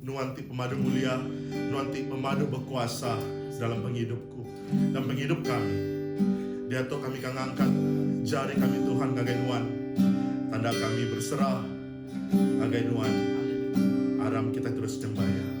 Nuan ti pemadu mulia, Nuan ti pemadu bekuasa dalam pengidup ku dan pengidup kami. Diatu kami ka ngangkat jari kami Tuhan ngagai Nuan, tanda kami berserah ngagai Nuan. Aram kitai terus nyembah Iya.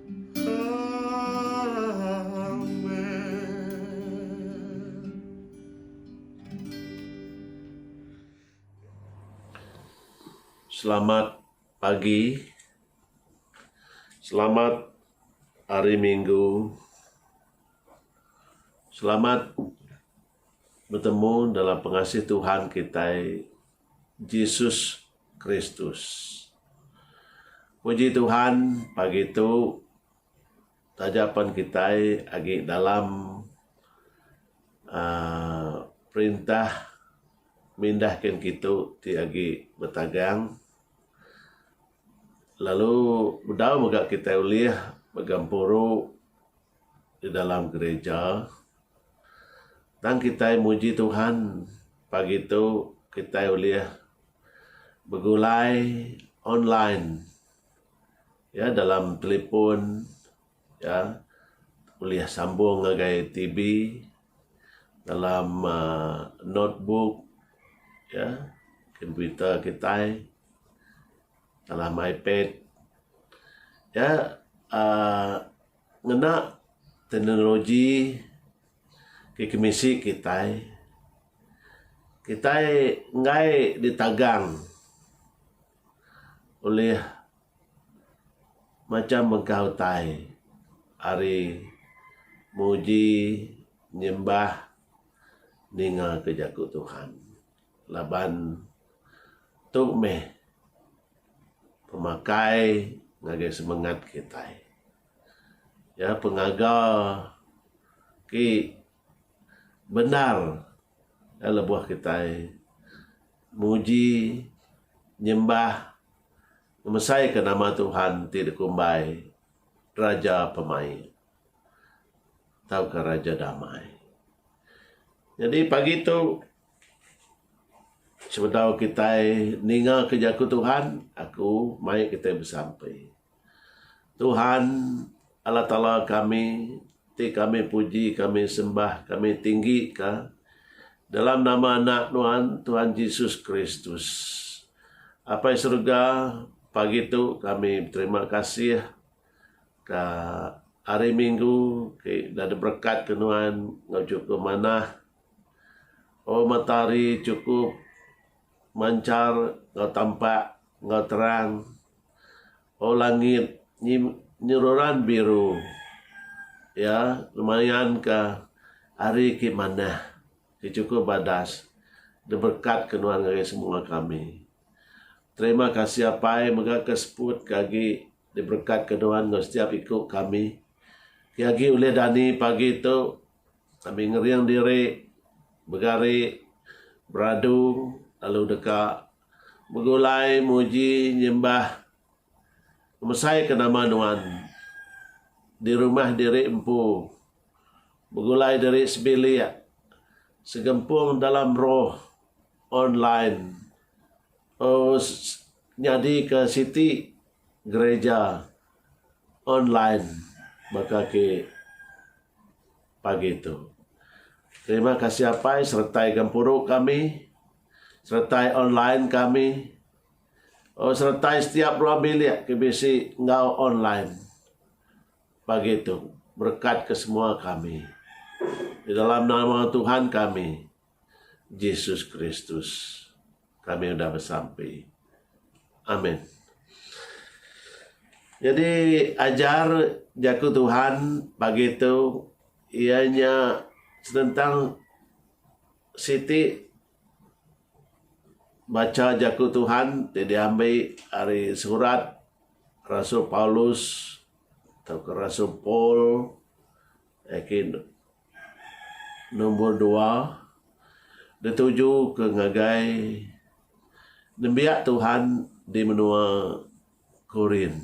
Selamat pagi. Selamat Hari Minggu. Selamat betemu dalam pengasih Tuhan kitai Jesus Kristus. Puji Tuhan pagi tu taja pen kitai agi dalam aaa perintah mindah ken kitu ti agi betagang lalu bedau mega kitai ulih mega puru di dalam gereja. Tang kitai muji Tuhan pagi tu kitai ulih begulai online ya dalam telefon ya ulih sambung ngagai TV dalam um notebook ya komputer kitai dalam ipad ya um Ngena teknologi ke kemisi kitai, kitai enggai ditagang ulih macam mega utai ari nguji nyembah ninga ke jaku Tuhan laban tu meh Pemakai ngagai semengat kitai. Iya pun ngaga ti bendar iya lebuh kitai muji, nyembah, ngemesaika nama Tuhan ti dikumbai Raja Pemaik tauka Raja Damai. Nyadi pagi tu. Sebedau kitai ningaka jaku Tuhan, aku mai kitai besampi. Tuhan, Allah Taala kami ti kami puji, kami sembah, kami tinggika dalam nama Anak Nuan, Tuhan Jesus Kristus. Apai Serega, pagi tu kami beterima kasih ka hari Minggu ti enda diberekatka Nuan enggau chukup manah. Oh matahari chukup manchar enggau tampak enggau terang. Oh langit nyi nyeruran biru iya ngemayanka hari ti manah ti chukup badas diberekatka nuan ngagai semua kami. Terima kasih Apai mega ke seput ke agi diberekatka nuan enggau setiap iku kami ti agi ulih dani pagi tu. Kami ngering diri begari beradu lalu deka begulai muji nyembah ngemesaika nama Nuan di rumah diri empu, begulai diri sebilik, segempung dalam roh, online, enggau nyadika siti gereja online baka ake. pagi tu. Terima kasih apai seretai gempuru kami, seretai online kami, oh seretai setiap ruang bilik ke bisi enggau online pagi tu. Berekat ke semua kami di dalam nama Tuhan kami. Jesus Kristus kami udah besampi. Amen. Nyadi ajar jaku Tuhan pagi tu iya nya senentang siti bacha jaku Tuhan ti diambi ari surat Rasul Paulus tauka Rasul Paul Nombor dua, ditujuka ngagai nembiak Tuhan di menua Korin.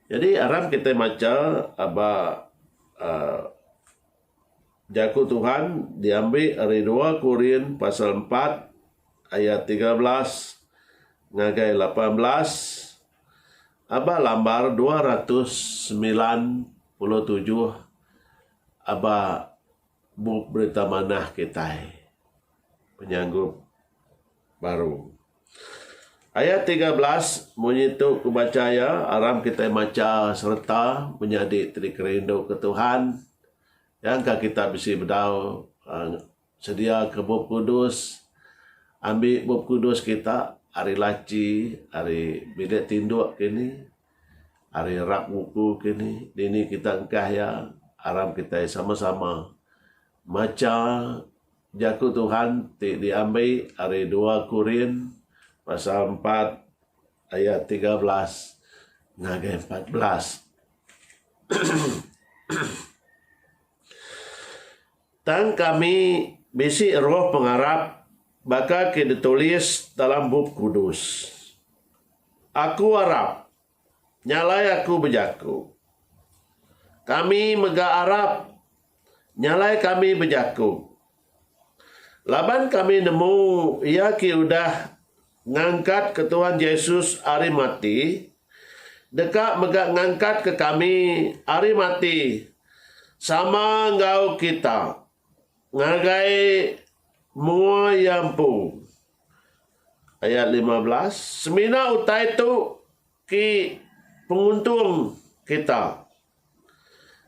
Jadi aram kitai macha aba aaa Jaku Tuhan diambi ari dua Korin pasal empat ayat tiga belas ngagai lapan belas. Aba lambar dua ratus semilan puluh tujuh aba bup berita manah kitai penyanggup baru. Ayat tiga belas munyi tu ku bacha iya aram kitai macha sereta menyadi ti dikerinduka Tuhan nyangka kita bisi bedau uhh Sediaka Bup Kudus, Ambi Bup Kudus kita ari laci, ari bilik tinduk kini, ari rak buku kini, dini kita engkah iya, aram kitai sama-sama macha Jaku Tuhan ti diambi ari dua Korin pasal empat ayat tiga belas ngagai empat belas. Tang kami bisi roh pengarap baka ke ditulis dalam Bup Kudus, Aku arap, nya alai aku bejaku. Kami mega arap, nya alai kami bejaku. Laban kami nemu iya ke udah Ngangkat ke Tuhan Jesus ari mati deka mega ngangkat ke kami ari mati sama enggau kita ngagai mua Iya empu. Ayat lima belas, Semina utai tu, Ti penguntung kita.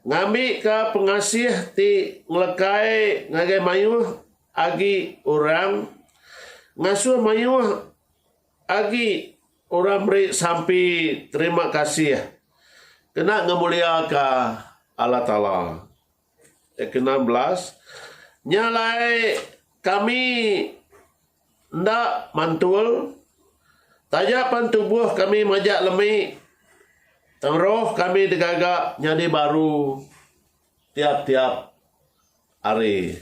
Ngambika pengasih ti ngelekai ngagai mayuh agi orang ngasuh mayuh agi orang meri sampi terima kasih kena ngemuliaka Allah Taala. Ayat ke enam belas, Nya alai kami enda mantul, taja pan tubuh kami majak lemi, tang roh kami digaga nyadi baru tiap-tiap hari.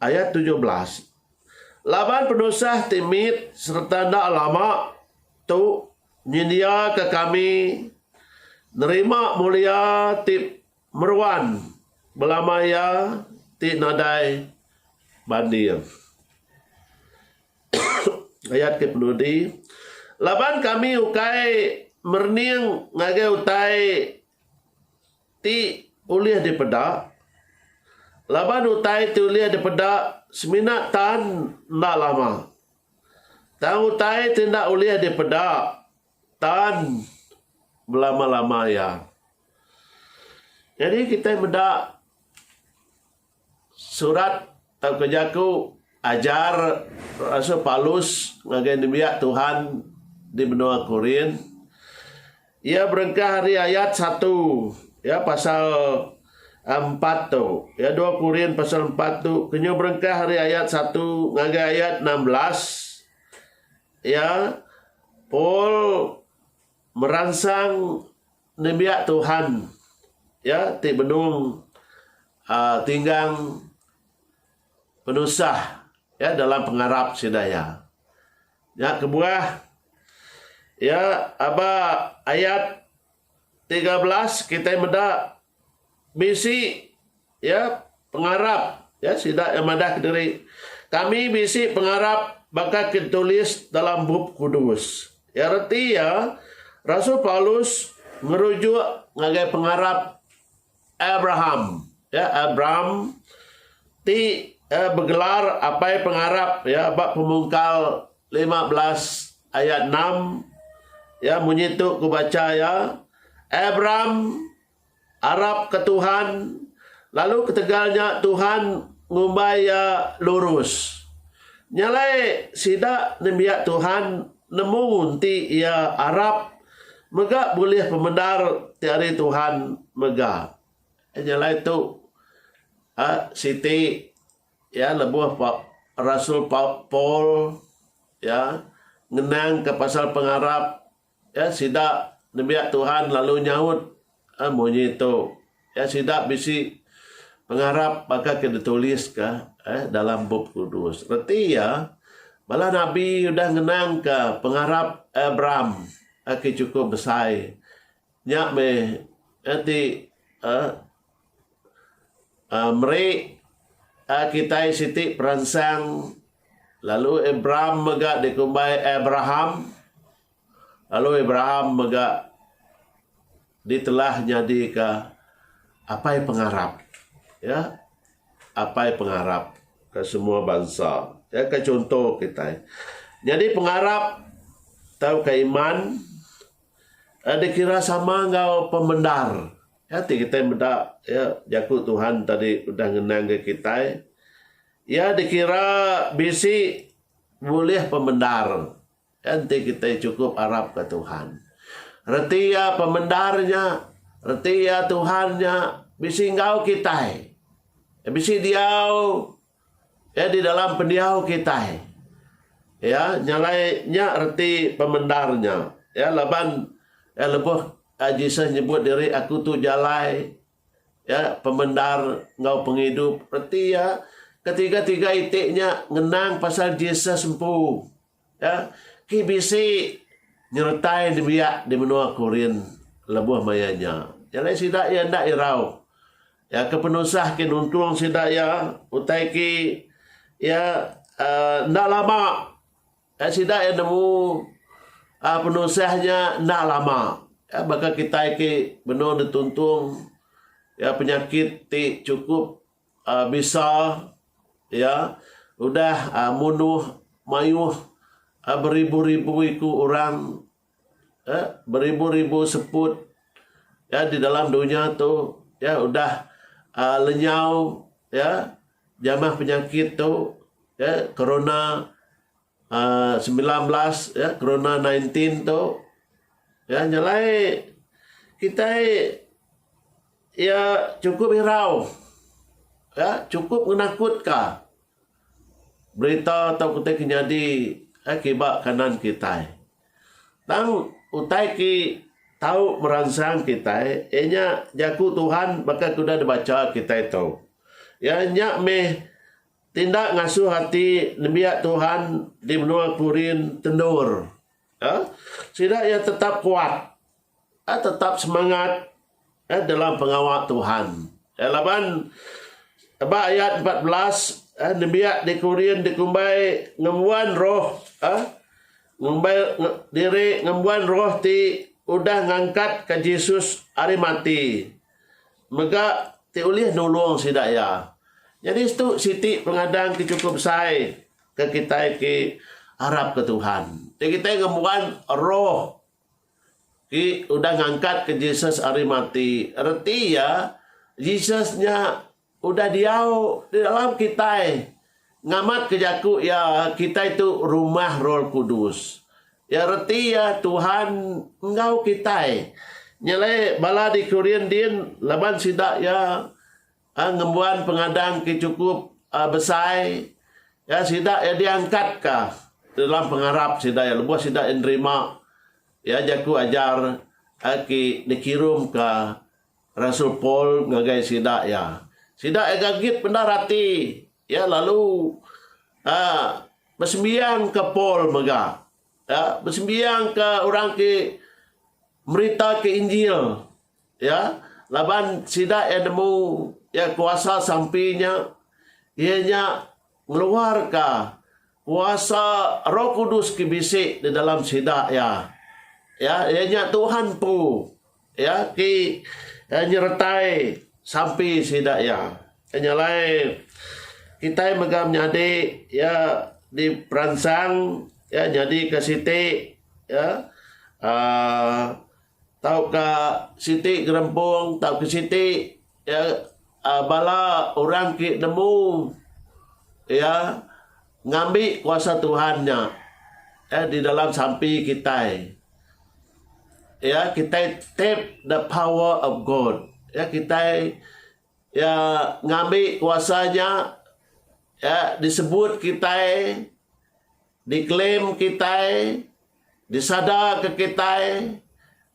Ayat tujuh belas, Laban penusah ti mit sereta enda lama tu, Nyendiaka kami nerima mulia ti meruan belama iya ti nadai banding. Ayat ke penudi, Laban kami ukai merening ngagai utai ti ulih dipeda, laban utai ti ulih dipeda semina tan enda lama. Tang utai ti enda ulih dipeda tan belama-lama iya. Nyadi kitai meda surat tauka jaku ajar Rasul Paulus ngagai nembiak Tuhan di menua Korint. Iya berengkah ari ayat satu, ya, pasal empat tu. Ya, dua Korin pasal empat tu. Kenyu berengkah ari ayat satu ngagai ayat enam belas. Ya, Paul meransang nembiak Tuhan, ya, ti benung uh, tinggang penusah, ya, dalam pengarap sida, ya. Nya kebuah iya aba ayat tiga belas kitai meda bisi iya pengarap iya sida iya madah kediri kami bisi pengarap baka ke ditulis dalam Bup Kudus. Iya reti iya Rasul Paulus ngerujuk ngagai pengarap Abraham, ya, Abram, ti, ya, begelar apai pengarap, ya, ba Pemungkal lima belas ayat enam, ya, munyi tu ku bacha iya, Abram arap ke Tuhan, lalu ketegal nya Tuhan ngumbai iya lurus. Nya alai sida nembiak Tuhan Nemu ti iya arap mega bulih pemendar ti ari Tuhan mega. Nya alai tu siti iya lebuh rasul Paul iya ngenangka pasal pengarap iya sida nembiak Tuhan lalu nyaut. A Munyi tu iya sida bisi pengarap baka ke dituliska dalam Bup Kudus. Reti iya, bala nabi udah ngenangka pengarap Abram ke chukup besai. Nya meh ti meri kitai siti peransang lalu Abram mega dikumbai Abraham. Lalu Abraham mega ditelah nyadika apai pengarap. Ya. Apai pengarap ke semua bansa. Ya ke chunto kitai. Nyadi pengarap tauka iman uhh dikira sama enggau pemendar. Ya ti kitai meda ya jaku Tuhan tadi udah ngenangka kitai. Iya dikira bisi bulih pemendar. Nya enti kitai chukup arapka Tuhan, reti iya pemendar nya, reti iya Tuhan nya bisi enggau kitai. Iya bisi diau iya di dalam pendiau kitai. Iya nya alai nya reti pemendar nya. Iya laban iya lebuh iya Jesus nyebut diri aku tu jalai, iya pemendar enggau pengidup. Reti iya ketiga-tiga iti nya ngenang pasal Jesus empu. Ki bisi nyeretai nembiak di menua Korin lebuh maya nya, iya alai sida iya enda irau. Iya ke penusah ke nuntung sida iya utai ke iya uhh enda lama sida iya nemu uhh penusah nya enda lama. Baka kitai ke benung dituntung iya penyakit ti chukup. Bisa iya udah munuh mayuh beribu-ribu iku orang, beribu-ribu seput di dalam dunya tu iya udah lenyau jamah penyakit tu, corona. sembilan belas ya corona nineteen tu ya nyelai kitai ya chukup irau ya chukup ngenakutka berita tauka ti ke nyadi ya kiba kanan kitai. Tang utai ti tau meransang kitai iya nya Jaku Tuhan baka ke udah dibacha kitai tu. Iya nya mih Tindak ngasuh ati nembiak Tuhan di menua Korin tendur. Sida iya tetap kuat, tetap semangat dalam pengawa Tuhan. Laban ba ayat empat belas, nembiak di Korin dikumbai ngembuan roh ngumbai diri ngembuan roh ti udah ngangkatka Jesus ari mati. Mega ti ulih nulung sida iya. Nyadi setu siti pengadang ke chukup besai ke kitai ti arapka Tuhan. Ti kitai ngembuan roh ti udah ngangkatka Jesus ari mati, reti iya Jesus nya udah diau di dalam kitai ngamatka jaku iya kitai tu rumah Roh Kudus. Iya reti iya Tuhan enggau kitai. Nyele bala di Korin din laban sida iya ngembuan pengadang ke chukup besai ya sida iya diangkat ka dalam pengarap sida iya lebuh sida iya nerima ya jaku ajar ke dikirum ka Rasul Paul ngagai sida iya. Sida iya gagit mendar ati Iya lalu aa besembiang ke Paul mega iya besembiang ke orang ti merita ke injil iya laban sida iya nemu iya kuasa sampi nya iya nya ngeluar ka kuasa roh kudus ti bisi di dalam sida iya iya nya Tuhan empu. Iya ti nyeretai sampi sida iya. Nya alai kitai mega menyadi iya diperansang iya nyadika siti uhh tauka siti gerempung tauka siti Iya bala orang ti nemu iya ngambi kuasa Tuhan nya di dalam sampi kitai. Iya kitai tap the power of God. Iya kitai iya ngambi kuasa nya iya disebut kitai Diklaim kitai, disadarka kitai,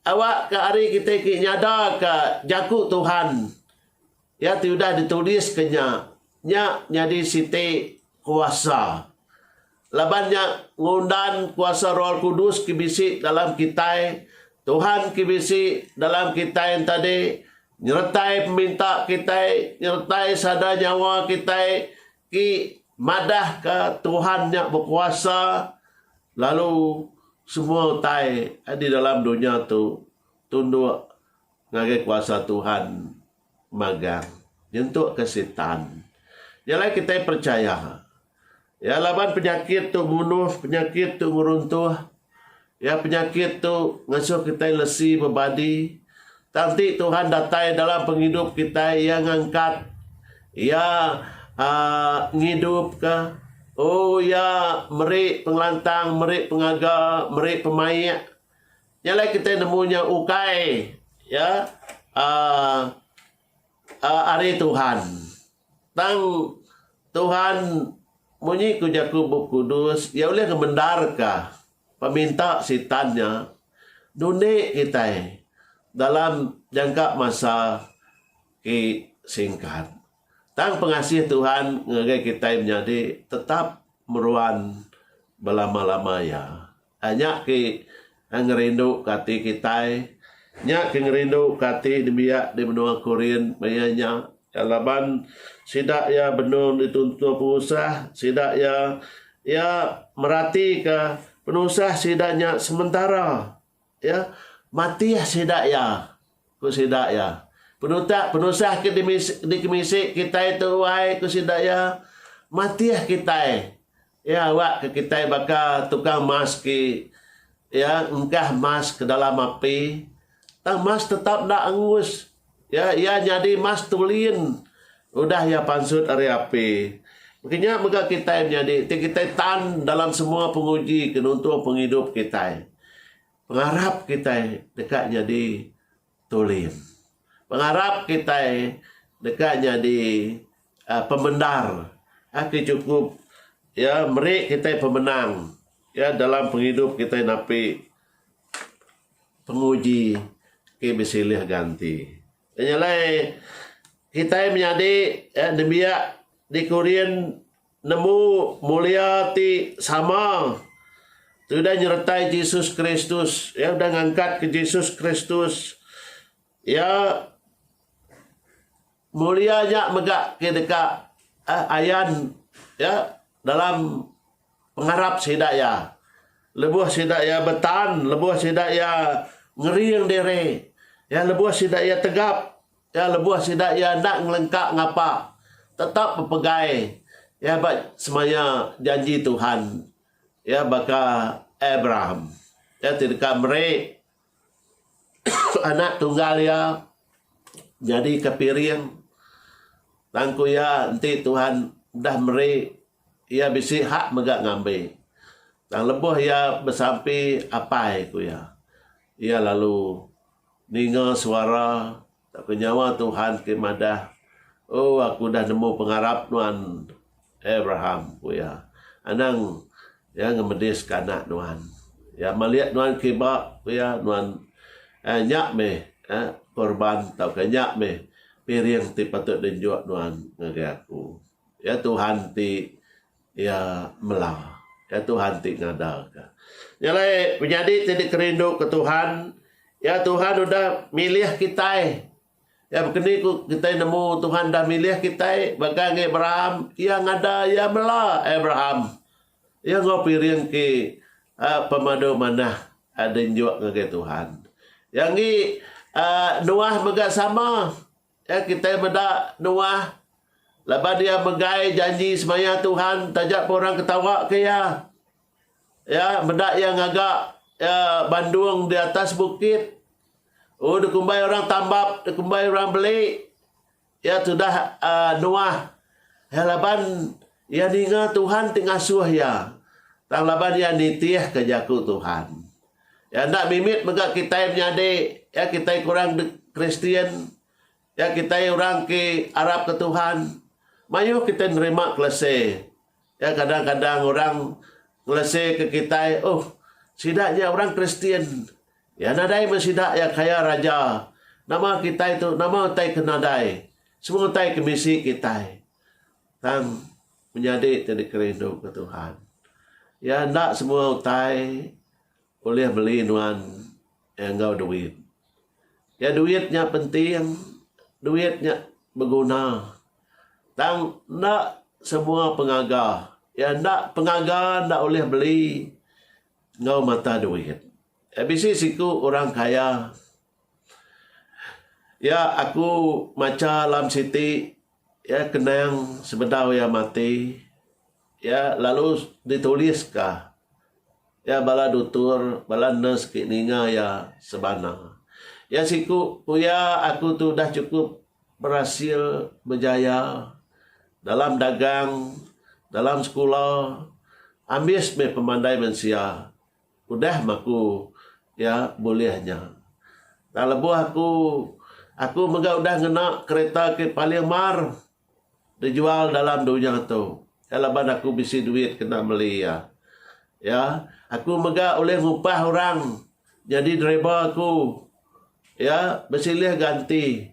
awakka ari kitai ti nyadarka Jaku Tuhan, iya ti udah dituliska nya, nya nyadi siti kuasa. Laban nya ngundan kuasa Roh Kudus ke bisi dalam kitai, Tuhan ke bisi dalam kitai enta dih, nyeretai peminta kitai, nyeretai sada nyawa kitai, Ti madahka Tuhan nya bekuasa lalu semua utai di dalam dunya tu tunduk ngagai kuasa Tuhan magang nyentukka Sitan. Nya alai kitai percaya. Ya laban penyakit tu munuh, penyakit tu ngeruntuh. Iya penyakit tu ngasuh kitai lesi bebadi. Tang enti Tuhan datai dalam pengidup kitai, Iya ngangkat, Iya aa ngidupka. Oh, Iya meri pengelantang, meri pengaga, meri pemaik. Nya alai kitai nemu nya ukai ya aa aa ari Tuhan. Tang Tuhan munyi ku jaku Bup Kudus, Iya ulih ngemendarka peminta Sitan nya nundi kitai dalam jangka masa ti singkat. Tang pengasih Tuhan ngagai kitai menyadi tetap meruan belama-lama iya. Ai nya ke ngerindu ke ati kitai. Nya ke ngerindu ke ati nembiak di menua Korin maya nya. Laban sida iya benung dituntuh penusah sida iya, iya meratika penusah sida nya sementara, iya matih sida iya, ku sida iya. Penutak penusah ke dikemisi kitai tu ai, ku sida iya, matih kitai. Iya awak ke kitai baka tukang mas ke iya engkah mas ke dalam api, tang mas tetap enda angus. Iya iya nyadi mas tulin udah iya pansut ari api. Baka nya mega kitai menyadi ti kitai tan dalam semua penguji ke nuntung pengidup kitai. Pengarap kitai deka nyadi. tulis. Pengarap kitai deka nyadi pemendar ke chukup iya meri kitai pemenang iya dalam pengidup kitai napi penguji ke besilih ganti. Nya nyelai kitai menyadi nembiak di Korean. Nemu mulia ti sama ti udah nyeretai Jesus Kristus, iya udah ngangkatka Jesus Kristus. Iya mulia nya mega ke deka ayan iya dalam pengarap sida iya lebuh sida iya betan, lebuh sida iya ngering diri, lebuh sida iya tegap Tang lebuh sida iya enda ngelengka ngapa tetap bepegai iya ba semaya janji Tuhan iya baka Abraham. Iya ti deka meri Anak Tunggal iya nyadika piring. Tang ku iya, Enti Tuhan udah meri, iya bisi hak mega ngambi. Tang lebuh iya besampi apai, ku iya, iya lalu Ninga suara tauka nyawa Tuhan ke madah, O, aku udah nemu pengarap nuan, Abraham, ku iya. Anang Iya ngemediska anak nuan. Iya malik nuan kiba, ku iya, nuan, eh, nya meh, eh, korban tauka nya meh piring ti patut diunjuk nuan ngagai Aku. Iya Tuhan ti. Iya mela. Iya Tuhan ti ngadaka. Nya alai penyadi ti dikerindu ke Tuhan, iya Tuhan udah milih kitai. Iya bekeni ku kitai nemu Tuhan udah milih kitai baka ngi Abraham, iya ngada iya mela Abraham. Iya enggau piring ti aaa pemadu manah aaa di njuk ngagai Tuhan. Iya ngi aaa Noah mega sama. Nya kitai meda Noah laban iya megai janji semaya Tuhan taja pun orang ke tawaka iya. Iya meda iya ngaga iya bandung di atas bukit. Oh dikumbai orang tambap, dikumbai orang beli. Iya tudah aaa Noah. Iya laban iya ninga Tuhan ti ngasuh iya. Tang laban iya nitihka jaku Tuhan. Iya enda mimit mega kitai menyadi iya kitai kurang Kristian, iya kitai orang ke arapka Tuhan. Mayuh kitai nerima kelese. Iya kadang-kadang orang ngeleseka kitai, Oh, sida nya orang Kristian. Iya nadai meh sida iya kaya raja. Nama kitai tu, nama utai ke nadai? Semua utai ke bisi kitai. Tang. Menyadi ti dikerinduka Tuhan. Iya enda semua utai ulih meli nuan enggau duit. Iya duit nya penting, duit nya beguna. Tang enda semua pengaga, iya enda pengaga enda ulih meli enggau mata duit. Iya bisi siku orang kaya iya aku macha alam siti. Iya kenang sebedau iya mati, iya lalu dituliska iya bala dutur, bala nurse ti ninga iya sebana. Iya siku ku iya, Aku tu udah chukup berasil bejaya dalam dagang, dalam sekula, ambis meh pemandai mensia. Udah meh aku iya bulih nya. Tang lebuh aku aku mega udah ngena kereta ke paling mar dijual dalam dunya tu. Iya laban aku bisi duit kena meli iya. Iya aku mega ulih ngupah orang nyadi driver aku. Iya besilih ganti.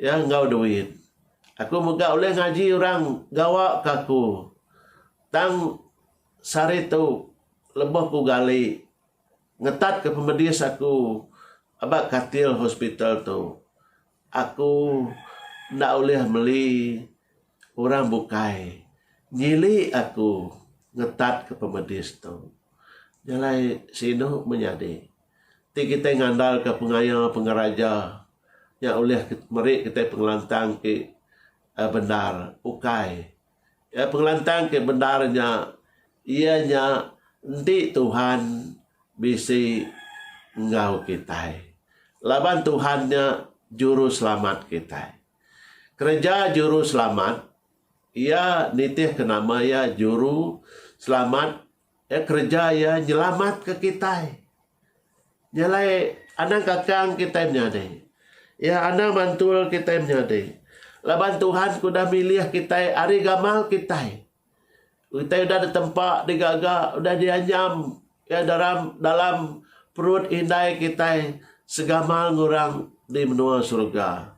Iya enggau duit. Aku mega ulih ngaji orang gawa ke aku. Tang sehari tu lebuh ku gali ngetat ke pemedis aku aba katil hospital tu aku enda ulih meli orang bukai nyili aku ngetat ke pemedis tu. Jalai sinu menyadi. Ti kitai ngandalka pengaya pengeraja nya ulih meri kitai pengelantang ti bendar? Ukai. Pengelantang ti bendar nya iya nya enti Tuhan bisi enggau kitai. Laban Tuhan nya juruselamat kitai. Kereja juruselamat iya nitihka nama iya juruselamat Iya kereja iya nyelamatka kitai. Nya alai anang kakang kitai menyadi. Iya anang mantul kitai menyadi. Laban Tuhan ke udah milih kitai ari gamal kitai. Kitai udah ditempa digaga, udah dianyam iya dalam dalam perut indai kitai segamal enggau orang di menua surga.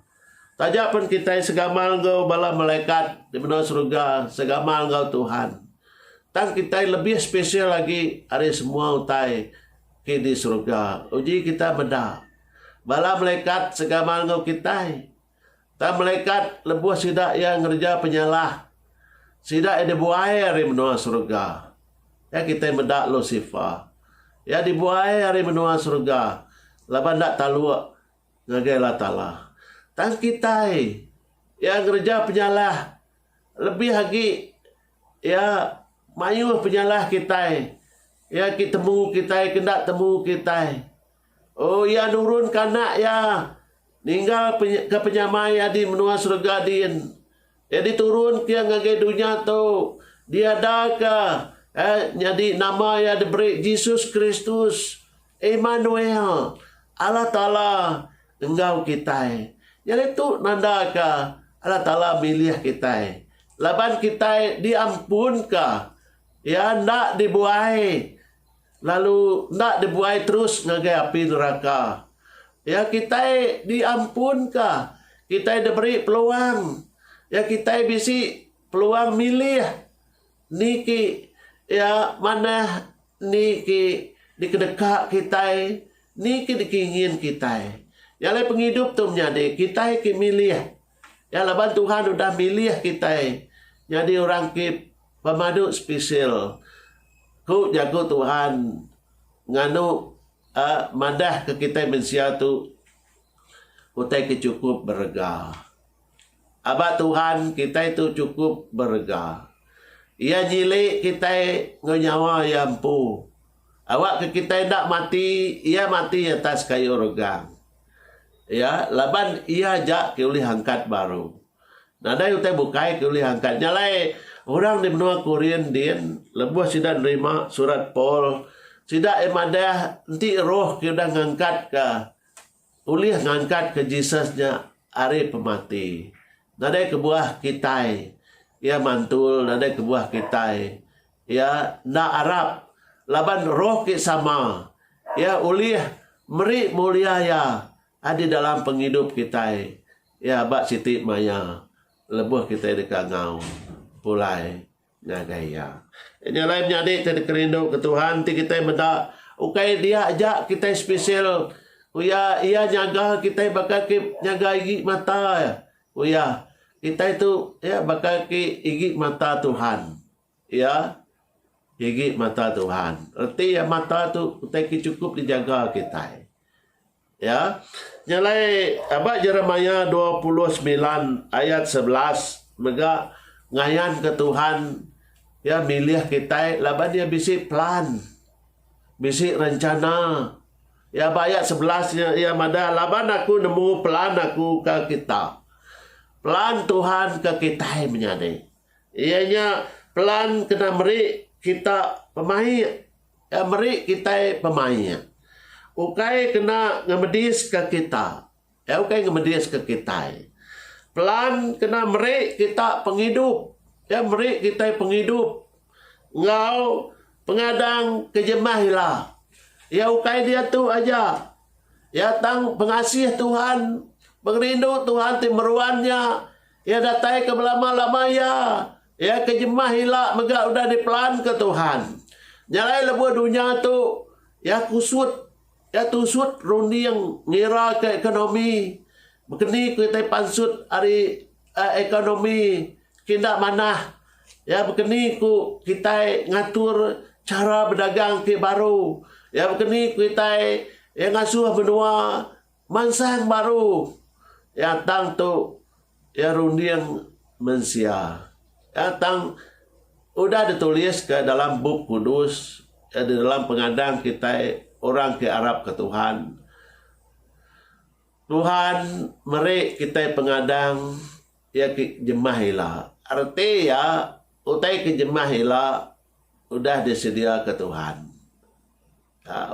Taja pen kitai segamal enggau bala malaikat di menua serega, segamal enggau Tuhan. Tang kitai lebih spesial agi ari semua utai ke di serega. Uji kitai meda, bala malaikat segamal enggau kitai. Tang malaikat lebuh sida iya ngereja penyalah, sida iya dibuai ari menua serega. Iya kitai meda Lusifer. Iya dibuai ari menua serega laban enda taluk. Ngagai Allah Taala. Tang kitai iya ngereja penyalah lebih agi iya mayuh penyalah kitai iya agi temu kitai ke enda temu kitai. Oh iya nurunka anak iya ninggalka penyamai iya di menua serega diin. Iya diturun ke ngagai dunya tu diadaka eh nyadi nama iya diberi Jesus Kristus, Immanuel, Allah Taala enggau kitai. Nyadi tu nandaka Allah Taala milih kitai laban kitai diampunka. Iya enda dibuai. Lalu enda dibuai terus ngagai api neraka. Iya kitai diampunka. Kitai diberi peluang. Iya kitai bisi peluang milih niki iya manah niki dikedeka kitai niki dikingin kitai. Jalai pengidup tu menyadi kitai ke milih. Nya laban Tuhan udah milih kitai nyadi orang ti pemadu spesial, ku Jaku Tuhan nganu a madahka kitai mensia tu utai ke chukup berega. Aba Tuhan, kitai tu chukup berega. Iya nyili kitai enggau nyawa iya empu. Awakka kitai enda mati, iya mati atas kayu regang. Iya, laban iya aja ke ulih angkat baru. Nadai utai bukai ke ulih angkat nya alai. Orang di menua Korin din, lebuh sida nerima surat Paul, sida ai madah enti roh ke udah ngangkatka ulih ngangkatka Jesus nya ari pemati. Nadai kebuah kitai iya mantul nadai kebuah kitai Iya enda arap, laban roh ke sama Iya ulih meri mulia Iya adi dalam pengidup kitai ya ba siti maya lebuh kitai deka ngau pulai ngagai Iya. Nya alai menyadi ti dikerinduka Tuhan ti kitai meda ukai dia aja kitai spesial ku Iya, Iya nyaga kitai baka ke nyaga igi mata Iya. Kitai tu ya baka ke igi mata Tuhan. Iya nyigi mata Tuhan. Reti iya mata tu utai ke chukup dijaga kitai. Ya. Nya alai aba Jeremiah dua puluh semilan ayat sebelas mega ngayanka Tuhan iya milih kitai laban iya bisi plan, bisi rencana. Ya ba ayat sebelas nya iya madah laban aku nemu plan aku ka kita. Plan Tuhan ka kitai menyadi. Iya nya pelan kena meri kita pemaik iya meri kitai pemaik. Ukai kena ngemediska kita. Iya ukai ngemediska kitai. Pelan kena meri kita pengidup. Iya meri kitai pengidup enggau pengadang ke jemah ila. Iya ukai diatu aja. Iya tang pengasih Tuhan, pengerindu Tuhan ti meruan nya. Iya datai ke belama-lama iya. Iya ke jemah ila mega udah dipelanka Tuhan. Nya alai lebuh dunya tu iya kusut iya tusut runding ngiraka ekonomi. Bekeni ku kitai pansut ari ekonomi ke enda manah iya bekeni ku kitai ngatur chara bedagang ti baru. Iya bekeni ku kitai iya ngasuh menua Mansang baru iya tang tu iya runding mensia. Iya tang udah dituliska dalam Bup Kudus iya di dalam pengadang kitai orang ke arapka Tuhan. Tuhan meri kitai pengadang iya ke jemah ila. Reti iya utai ke jemah ila udah disediaka Tuhan.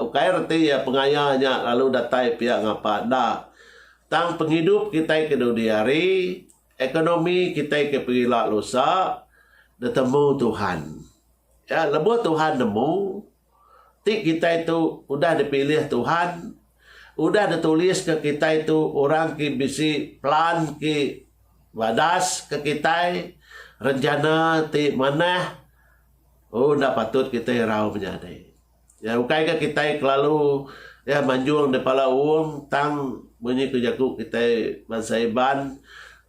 Ukai reti iya pengaya nya lalu datai pia ngapa enda, tang pengidup kitai ke dudi hari, ekonomi kitai ke pengila lusa, ditemu Tuhan. Iya lebuh Tuhan nemu, ti kitai tu udah dipilih Tuhan, udah dituliska kitai tu orang ke bisi pelan ke badasaka kitai, rencana ti manah Oh enda patut kitai irau menyadi. Ya ukai ka kitai kelalu ya manjung di pala uung tang munyi ku jaku kitai bansa Iban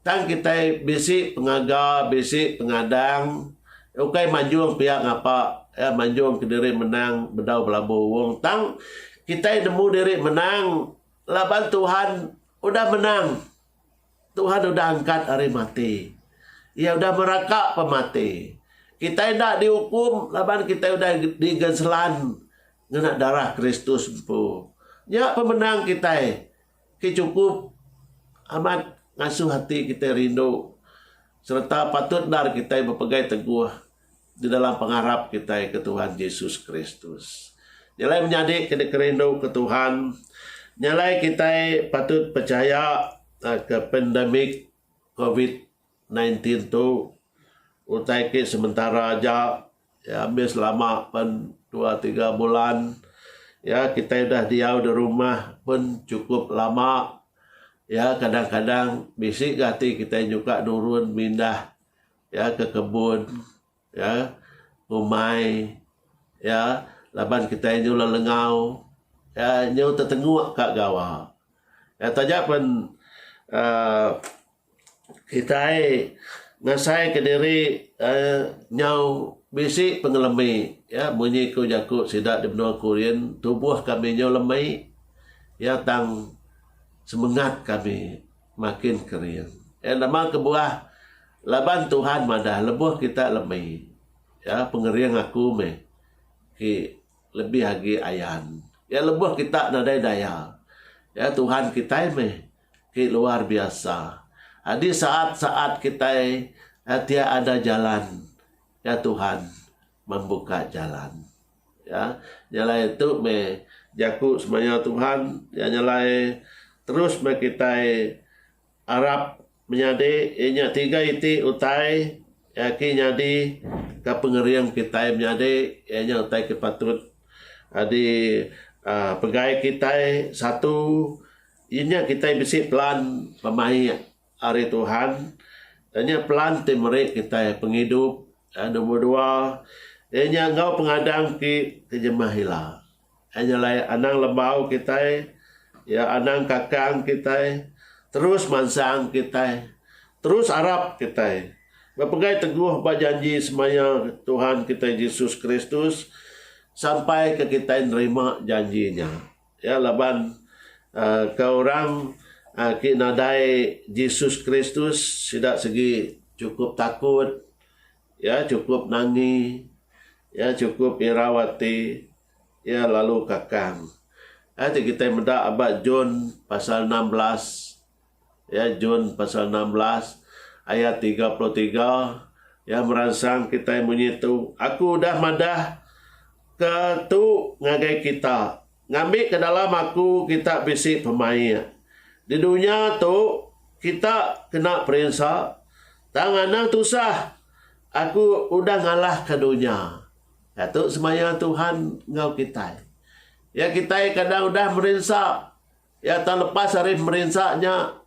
tang kitai bisi pengaga bisi pengadang ukai manjung pia ngapa ya manjung kediri menang bedau belabuh uung tang kitai nemu diri menang laban Tuhan udah menang. Tuhan udah angkat ari mati. Iya udah meraka pemati. Kitai enda diukum laban kitai udah digenselan ngena darah Kristus empu. Nya pemenang kitai ke chukup amat ngasuh ati kitai rindu sereta patut endar kitai bepegai teguh. Di dalam pengarap kitai ke Tuhan Jesus Kristus. Nyalai menyadi ke dikerindu ke Tuhan, nyalai kitai patut pechaya ke pandemik covid nineteen tu utai ke sementara aja, iya mih selama pen dua tiga bulan. Iya kitai udah diau di rumah pun chukup lama, iya kadang-kadang bisi ga ati kitai nyuka nurun mindah. ya ke kebun ya umai ya laban kitai nyulah lengau ya nyu tetenguk ka gawa ya taja pen um kitai ngasai ke diri um nyau bisi pengelemi ya munyi ku jaku sida di menua kurin tubuh kami nyau lemi ya tang semengat kami Makin kering. Iya nama kebuah? Laban Tuhan madah lebuh kita lemi, iya pengering aku meh ti lebih agi ayan. Iya lebuh kita nadai daya, iya Tuhan kitai meh ti luar biasa. Adi saat-saat kitai tiada jalan, iya Tuhan membuka jalan. Ya, nyalai tu meh jaku semaya Tuhan, iya nyalai terus meh kitai arap menyadi iya nya tiga iti utai agi nyadi ka pengering kitai menyadi iya nya utai ke patut adi aaa pegai kitai satu iya nya kitai bisi pelan pemaik Ari Tuhan. Iya nya pelan ti meri kitai pengidup. Nombor dua, iya nya enggau pengadang ti ti jemah ila. Iya nya alai anang lembau kitai, iya anang kakang kitai, terus mansang kitai, terus arap kitai. Bepegai teguh ba janji semaya Tuhan kitai Jesus Kristus sampai ke kitai nerima janji nya. Iya laban ke orang ti nadai Jesus Kristus sida segi chukup takut, iya chukup nangi, iya chukup irau ati, iya lalu kakang. Enti kitai meda aba John pasal enam belas. Ya Jun pasal enam belas ayat tiga puluh tiga ya meransang kitai munyi tu aku udah madah ke tu ngagai kita ngambi ke dalam aku kita bisi pemaik di dunya tu kita kena perinsa tang anang tusah aku udah ngalah ke dunya ya tu semaya Tuhan enggau kitai ya kitai kadang udah merinsa Iya tang lepas ari merinsa nya.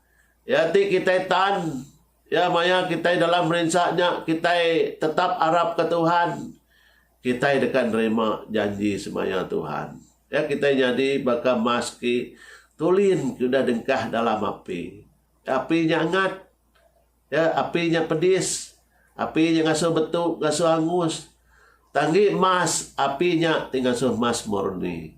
Iya ti kitai tan. Iya maya kitai dalam merinsa nya kitai tetap arapka Tuhan, kitai deka nerima janji semaya Tuhan. Iya kitai nyadi baka mas ti tulin ke udah dengkah dalam api. Api nya angat. Ya, api nya pedis. Api nya ngasuh betu, ngasuh angus. Tanggi mas, api nya ti ngasuh mas murni.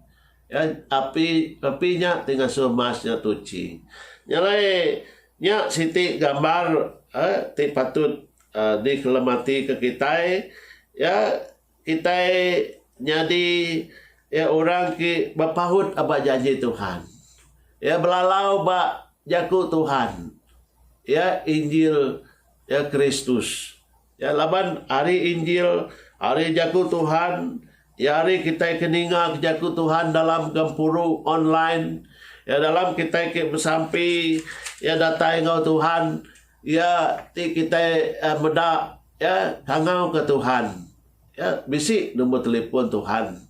Ya, api api nya ti ngasuh mas nya tuchi. Nya alai, nya siti gambar, eh, ti patut, eh, dikelematike kitai. Ya, Kitai nyadi iya orang ti bepaut ba janji Tuhan. Iya belalau ba Jaku Tuhan, iya Injil iya Kristus. Iya laban ari Injil, ari Jaku Tuhan, iya ari kitai ke ninga ke Jaku Tuhan dalam gempuru, online, iya dalam kitai ke besampi, iya datai enggau Tuhan, Iya ti kitai meda iya tangau ke Tuhan. Iya bisi number telefon Tuhan.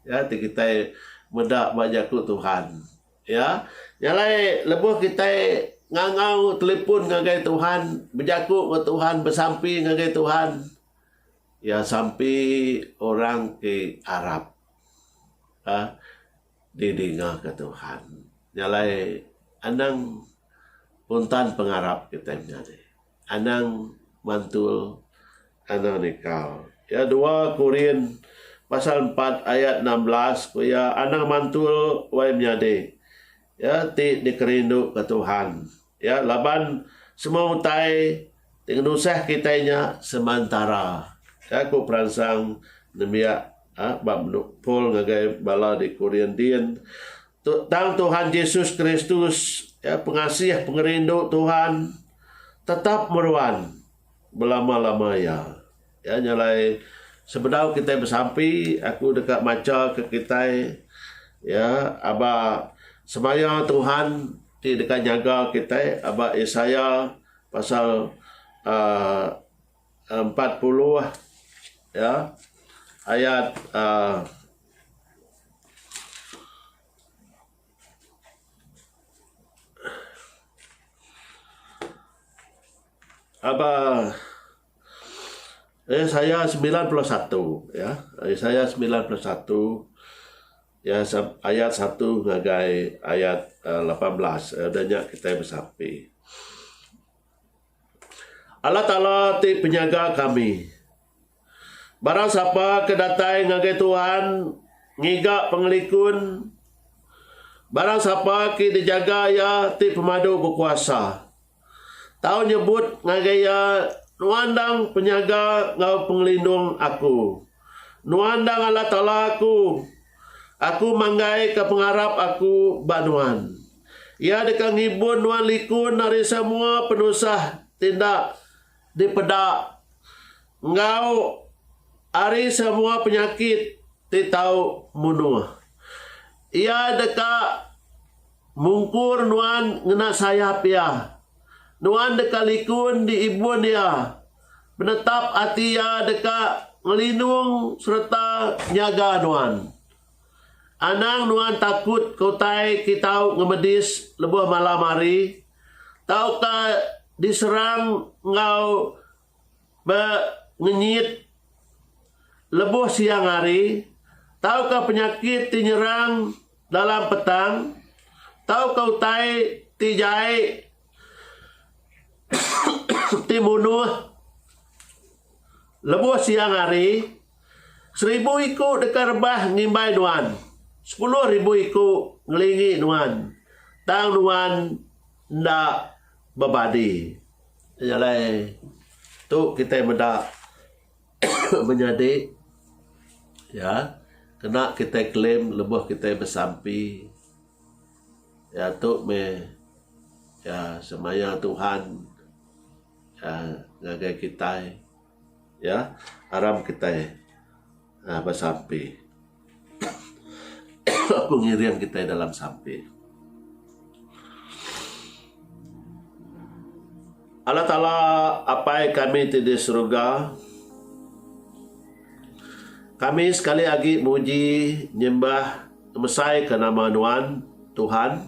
Iya ti kitai meda ba jaku Tuhan. Iya nya alai lebuh kitai ngangau telefon ngagai Tuhan, bejaku enggau Tuhan, besampi ngagai Tuhan, iya sampi orang ti arap. Ka. Didingaka Tuhan. Nya alai anang pun tan pengarap kitai menya ni. Anang mantul. Anang nikal. Ya dua Korin pasal empat ayat enam belas ku iya anang mantul wai menyadi ya ti dikerinduka Tuhan. Iya laban semua utai ti ngenusah kitai nya semantara, ka ku peransang nembiak ba menu Paul ngagai bala di Korintin. Tu tang Tuhan Jesus Kristus, pengasih pengerindu Tuhan, tetap meruan Belama-lama iya. Iya nya alai sebedau kitai besampi, aku deka machaka kitai, iya, aba semaya Tuhan ti deka nyaga kitai aba Isaya pasal uhh empat puluh, iya, ayat uhh. Aba ayah saya semilan puluh satu ya. Ayah saya semilan puluh satu ya ayat satu ngagai ayat lapan belas udah nya kitai besape. Allah Taala ti penyaga kami. Barang sapa ke datai ngagai Tuhan ngiga pengelikun, barang sapa ke dijaga Iya ti Pemadu Bekuasa, tau nyebut ngagai Iya, Nuan endang penyaga enggau pengelindung aku. Nuan endang Allah Taala aku. Aku manggaika pengarap aku ba Nuan. Iya deka ngibun nuan likun ari semua penusah ti enda Dipeda enggau ari semua penyakit ti tau munuh. Iya deka mungkur nuan ngena sayap Iya. Nuan deka likun di ibun Iya. Penetap ati Iya deka ngelinung sereta nyaga nuan. Anang nuan takut ke utai ke tau ngemedis lebuh malam hari. tauka diserang enggau pengenyit lebuh siang hari tauka penyakit ti nyerang dalam petang tauka utai ti jai ti munuh lebuh siang hari. Seribu iku deka rebah ngimbai nuan, sepuluh ribu iku ngelingi nuan, tang nuan enda bebadi. Nya alai tu kitai meda menyadi iya kena kitai claim lebuh kitai besampi. Iya tu meh iya semaya Tuhan ngagai kitai. Iya aram kitai besampi. Aku ngiring kitai dalam sampi. Allah Taala Apai kami ti di Seruga, kami sekali agi muji, nyembah, ngemesai ka nama Nuan, Tuhan.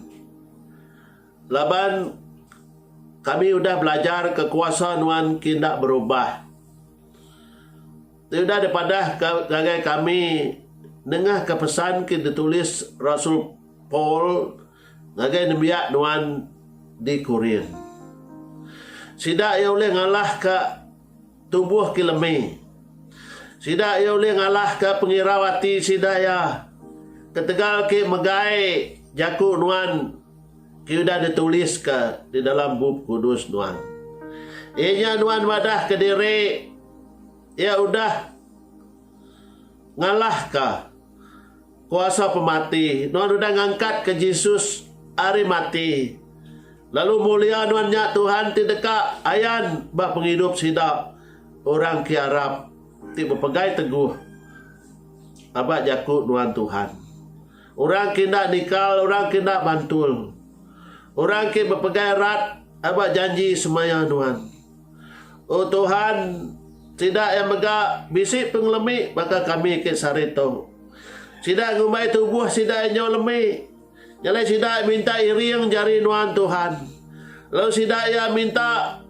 Laban kami udah belajar ke kuasa Nuan ki enda berubah. Ti udah dipadah ka ngagai kami nengah ke pesan ki ditulis rasul Paul ngagai nembiak Nuan di Korin. Sida iya ulih ngalah ka. Tubuh ke lemi. Sida iya ulih ngalahka pengirau ati sida iya. Ketegal ke megai jaku nuan ke udah dituliska di dalam Bup Kudus nuan, iya nya nuan madahka diri iya udah ngalahka Kuasa pemati. Nuan udah ngangkatka Jesus ari mati, lalu mulia nuan nya Tuhan ti deka ayan ba pengidup sida orang ke arap ti bepegai teguh aba jaku nuan Tuhan. Orang ke enda nikal, orang ke enda mantul, orang ke bepegai rat aba janji semaya nuan. O Tuhan, sida iya mega bisi pengelemi baka kami ke sehari tu. Sida ngumbai tubuh sida iya nyau lemi. Nyelai sida iya minta iring jari nuan Tuhan, lalu sida iya minta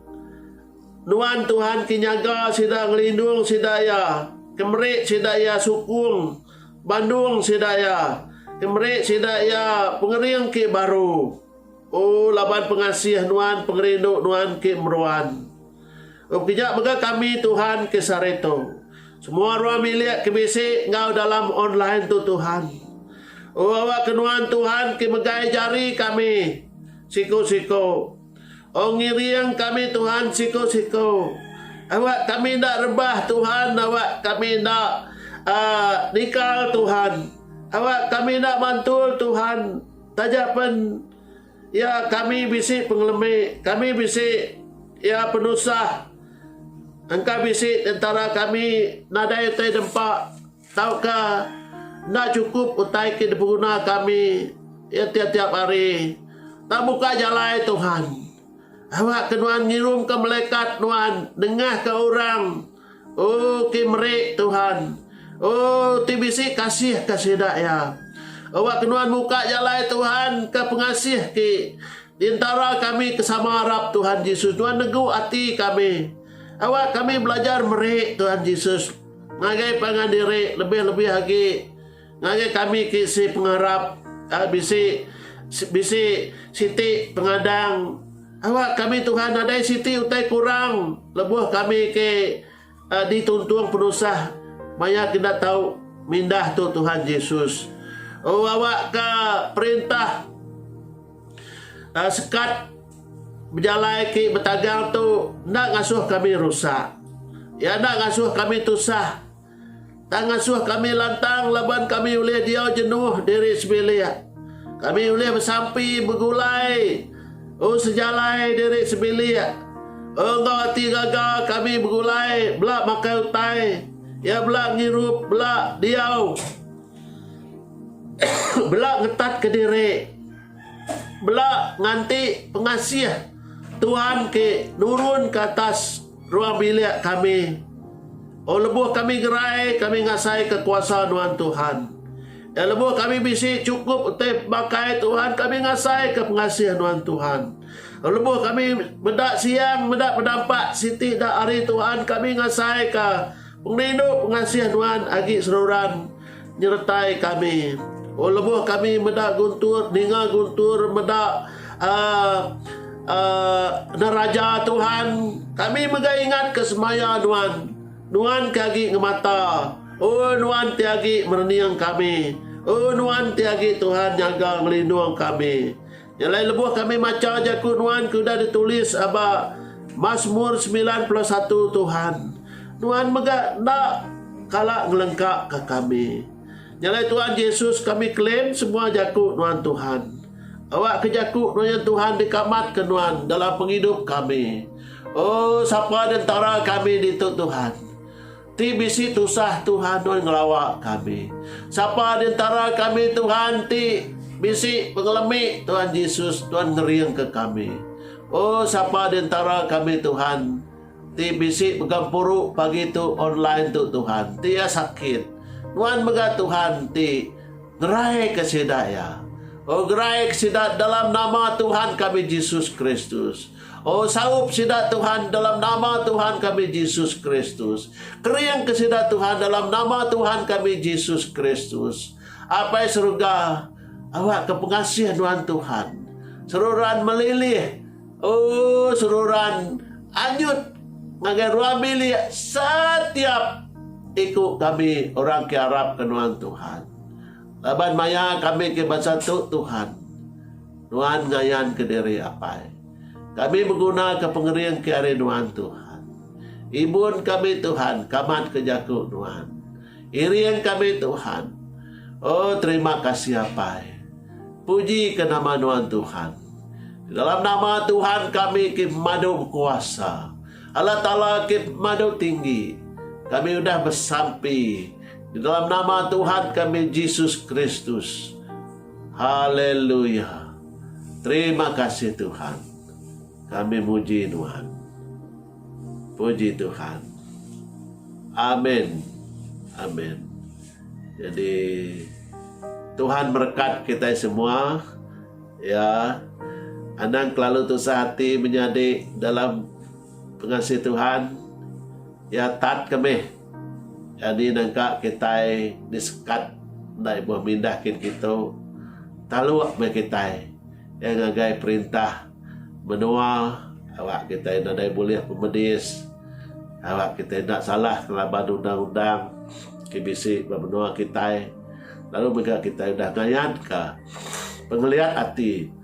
Nuan Tuhan ke nyaga sida ngelindung sida iya, ke meri sida iya sukung bandung sida iya, ke meri sida iya pengering ke baru. O laban pengasih nuan pengerindu nuan ke meruan. Engkeja mega kami Tuhan ke sarito. Semua ruang bilik ke bisi enggau dalam online tu Tuhan. O awakka nuan Tuhan ke megai jari kami siku siku. O ngiring kami Tuhan siku siku. Awak kami enda rebah Tuhan awak kami enda aaa nikal Tuhan. Awak kami enda mantul Tuhan. Taja pen iya kami bisi pengelemi, kami bisi iya penusah engka bisi di entara kami nadai utai dempa tauka enda chukup utai ke dipeguna kami iya tiap-tiap hari. Tang buka jalai Tuhan. Awakka nuan ngirumka melekat nuan nengahka orang. Oh, ti meri, Tuhan. Oh, ti bisi kasih ka sida iya. Awak ke nuan muka jalai, Tuhan, ka pengasih ti di entara kami ke sama arap, Tuhan Jesus. Nuan negu ati kami. Awak kami belajar meri, Tuhan Jesus. Ngagai pangan diri lebih-lebih agi. Ngagai kami ti si pengarap ka bisi bisi siti pengadang awak kami Tuhan nadai siti utai kurang lebuh kami ke dituntung penusah maya ke enda tau mindah tu Tuhan Jesus. Oh awak ka perintah sekat bejalai ke betagal tu enda ngasuh kami rusak. Iya enda ngasuh kami tusah. Tang ngasuh kami lantang laban kami ulih diau jenuh diri sebilik. Kami ulih besampi begulai enggau sejalai diri sebilik. Enggau ati gaga kami begulai bela makai utai iya bela ngirup bela diau bela ngetatka diri bela nganti pengasih Tuhan ke nurun ke atas Ruang bilik kami. O lebuh kami gerai, kami ngasaika kuasa nuan Tuhan. E lebuh kami bisi chukup utai pemakai Tuhan, kami ngasaika pengasih nuan Tuhan. O lebuh kami meda siang, meda penampak siti da ari Tuhan, kami ngasaika Pengerindu pengasih nuan agi seruran nyeretai kami. O lebuh kami meda guntur ninga guntur meda uhh uhh neraja Tuhan kami mega ingat ke semaya nuan. Nuan ke agi ngemata. O nuan ti agi merening kami. O nuan ti agi Tuhan nyaga ngelindung kami. Nya alai lebuh kami macha jaku Nuan ke udah ditulis aba Masmur semilan puluh satu Tuhan, Nuan mega enda kala ngelengka ka kami. Nya alai Tuan Jesus kami claim semua jaku Nuan Tuhan. Awak ke jaku Nuan Tuhan dikamat ke Nuan dalam pengidup kami. Oh sapa di entara kami ditu Tuhan. Ti bisi tusah Tuhan nuan ngelawa kami. Sapa di entara kami Tuhan ti bisi pengelemi Tuhan Jesus nuan ngeringka kami. Oh sapa di entara kami Tuhan ti bisi begempuru pagi tu online tu Tuhan ti iya sakit. Nuan mega Tuhan ti ngeraika sida iya. Oh geraika sida dalam nama Tuhan kami Jesus Kristus. O saup sida Tuhan dalam nama Tuhan kami Jesus Kristus. Kering ke sida Tuhan dalam nama Tuhan kami Jesus Kristus. Apai Seruga, awak ke pengasih nuan Tuhan. Seruran melilih. O seruran anyut ngagai ruang bilik setiap iku kami orang ke arap ke nuan Tuhan. Laban maya kami ke bansa tu Tuhan. Nuan ngayanka diri, Apai. Kami begunaka pengering ke ari Nuan, Tuhan. Ibun kami, Tuhan, kamatka jaku Nuan. Iring kami, Tuhan. Oh, terima kasih, Apai. Pujika nama Nuan, Tuhan. Di dalam nama Tuhan kami ke pemadu bekuasa. Allah Taala ke pemadu tinggi. Kami udah besampi di dalam nama Tuhan kami, Jesus Kristus. Haleluya! Terima kasih Tuhan. Kami muji Nuan. Puji Tuhan. Amin. Amin. Jadi Tuhan merekat kita semua. Ya. Anang kelalu tusah hati menyadi dalam pengasih Tuhan. Ya tat kami. Nyadi nengka kitai disekat enda ibuh mindah kin kitu, taluk meh kitai iya ngagai perintah menua awak kitai nadai bulih pemedis, awak kitai enda salah ngelaban undang-undang ti bisi ba menua kitai lalu mega kitai udah ngayanka pengeliat ati.